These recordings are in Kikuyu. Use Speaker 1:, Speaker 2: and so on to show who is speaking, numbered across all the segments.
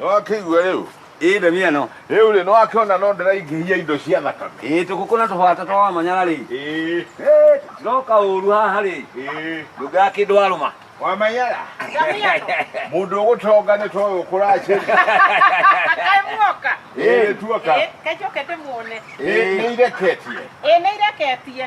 Speaker 1: nĩwakĩigua rĩu ĩĩ ndemi ĩno rĩu rĩ nĩwakĩona no ndĩraingĩhia indo cia thakame ĩĩ tũkũkũ na tũbata twa wamanyara rĩ ĩĩ Ĩĩ, tiroka ũru haha rĩ ĩĩ ndũngaa kĩndũ warũma wamanyara mũndũ ũgũtonga nĩ toyũ kũracĩria Kaĩ muoka? ĩĩ tuoka Ĩ, kacoke ndĩmuone. ĩĩ nĩireketie Ĩ, nĩireketie.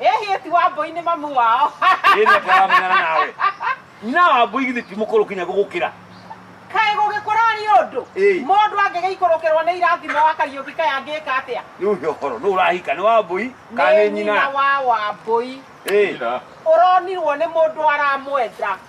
Speaker 1: Ĩ hihi ti Wambũi nĩ mamu wao? Ĩ nĩ atĩ aramenyana nawe. Nyina wa Wambũi githĩ ti mũkũrũ kinya gũgũkĩra? Kaĩ gũgĩkũra nĩ ũndũ? Ĩĩ. Mũndũ angĩgĩikũrũkĩrwo nĩ irathimo wa Kariũki kaĩ angĩka atĩa? Rĩu he ũhoro nũ ũrahika nĩ Wambũi kana nĩ nyina? wa Wambũi. Ĩĩ. Nyina. Ũronirwo nĩ mũndũ aramwenda.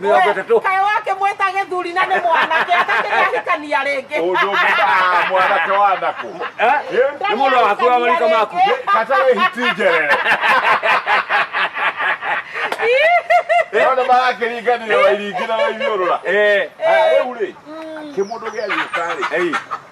Speaker 1: Mĩrongo ĩtatũ. kayo wake mweta gĩthuri na nĩ mwanake atakĩrĩ ahikania rĩngĩ Ũndũ mbaa mwanake wa nako. Eh? Nĩ mũndũ wa hakuhĩ wa marika maku. Kata we hitinjerere. Ona marakĩringanire wairingi na waithiũrũra. Eh. Rĩu rĩ, kĩmũndũ gĩa gĩũka rĩ, Ei.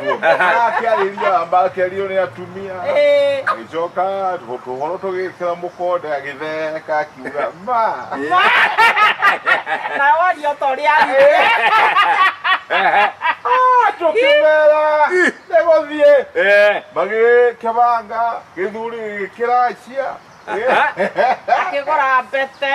Speaker 1: akĩarĩria amba akĩario nĩ atumia Eh, agĩcoka tũhoro tũgĩkĩra mũkonde agĩtheka akiuga ma na waria ta ũrĩa arire tũkĩmera nĩ gũthiĩ Eh. magĩkĩbanga gĩthuri gĩkĩracia akĩgũra mbete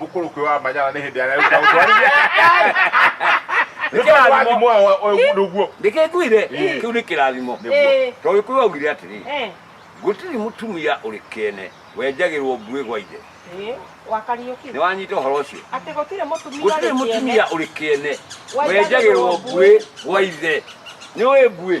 Speaker 1: mũkũrũki wa manyara nĩ hĩndĩ arĩa ũka ũtwarithia nĩ kĩrathimo ũndũ guo ndĩkĩnguire Ĩĩ. kĩu nĩ kĩrathimo Ĩĩ. tondũ gĩkũyũ augire atĩrĩ Eh, gũtirĩ mũtumia ũrĩ kĩene wenjagĩrwo mbuĩ gwa ithe eh, wakariũki nĩ wanyita ũhoro ũcio atĩ gũtirĩ mũtumia gũtirĩ ũrĩ mũtumia kĩene. ũrĩ kĩene Wenjagĩrwo wenjagĩrwo mbuĩ gwa ithe nĩ ũĩ mbuĩ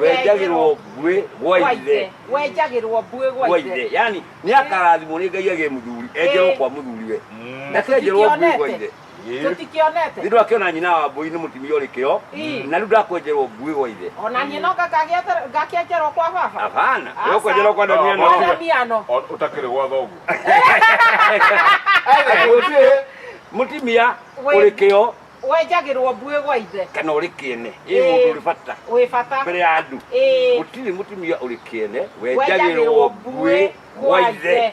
Speaker 1: wenjagirwo ngwĩ gwa ithe wenjagirwo mbuĩ gwa gwa ithe ithe yani nä akarathimwo nä ngai agä må thuri enjerwo kwa må thuri we Mm. ndakenjerwo ngui gwa ithe Ĩ. tũtikĩonete nä ndå akäona nyina wa mbå i nä må tumia å rä kä o Ĩ. na rä u ndakwenjerwo ngui gwa ithe ona niĩ no ngakagĩete- ngakĩenjerwo kwa baba abana Aca. we kwenjerwo kwa ndania Kwa no ndamiano O- ũtakĩrĩ gwa thoguo må tumia å rä kä o wenjagĩrwo mbuĩ gwa ithe kana ũrĩ kĩene ĩ Ĩĩ. mũndũ ũrĩ bata wĩ bata mbere ya andũ Ĩĩ. gũtirĩ mũtumia ũrĩ kĩene wenjagĩrwo mbuĩ gwa ithe